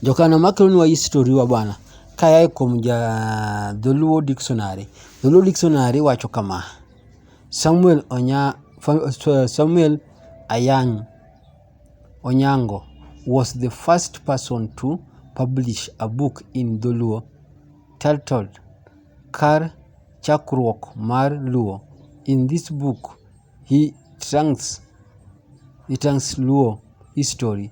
Jokano makelonwa history wa bwana kayae kuom ja Dholuo Dictionary. Dholuo Dictionary wacho kama, Samuel Onya, Samuel Ayang Onyango was the first person to publish a book in Dholuo titled Kar Chakruok mar Luo. In this book, he trunks, he trunks Luo history.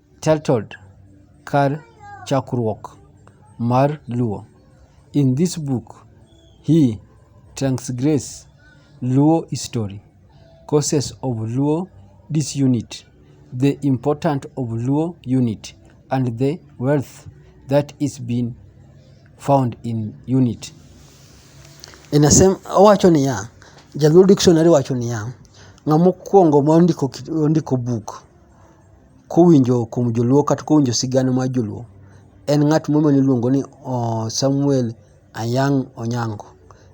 titled Kar Chakruok mar Luo. In this book, he transgress Luo history, causes of Luo disunity, the importance of Luo unity, and the wealth that is being found in unity. Inasema owacho niya, Jaluo Dictionary wacho niya, ng'ama okuongo mondiko buk kowinjo kuom joluo kata kowinjo sigana mar joluo en ng'at moro miluongo ni Samuel Ayang' Onyango.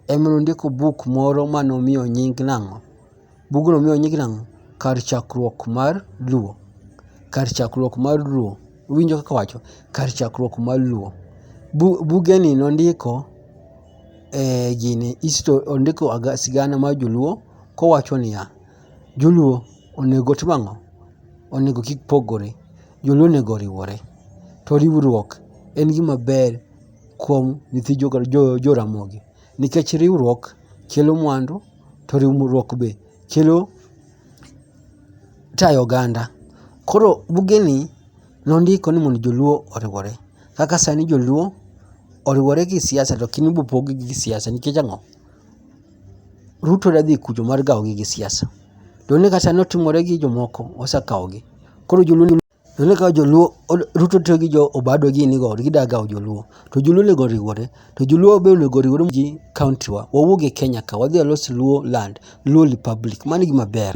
En ema nondiko buk moro mane omiyo nying nang'o? Bugno omiyo nying nang'o? Kar chakruok mar luo. Kar chakruok mar luo. Iwinjo kaka awacho? Kar chakruok mar luo. Bugeni nondiko e gini, ondiko sigana mar joluo kowacho niya. Joluo onego otim ang'o? Onego kik pogore. Joluo onego oriwore. To riwruok en gima ber kuom nyithi joramogi nikech riwruok kelo mwandu to riwruok be kelo tayo oganda. Koro bugeni nondiko ni mondo joluo oriwore. Kaka sani joluo oriwore gi siasa to kiny ibopogi gi siasa nikech ang'o? Ruto ne dhi kucho mar gawogi gi siasa. To ineno kaka sani otimore gi jomoko, osekawogi. Koro joluo ni ineno kaka joluo Ruto tiyo gi jo Obado gini go gida gawo joluo. To joluo onego oriwore, to joluo be onego oriwre gi kaontiwa. Wawuog e Kenya ka, wadhi walos Luo land, Luo republic. Mano e gima ber.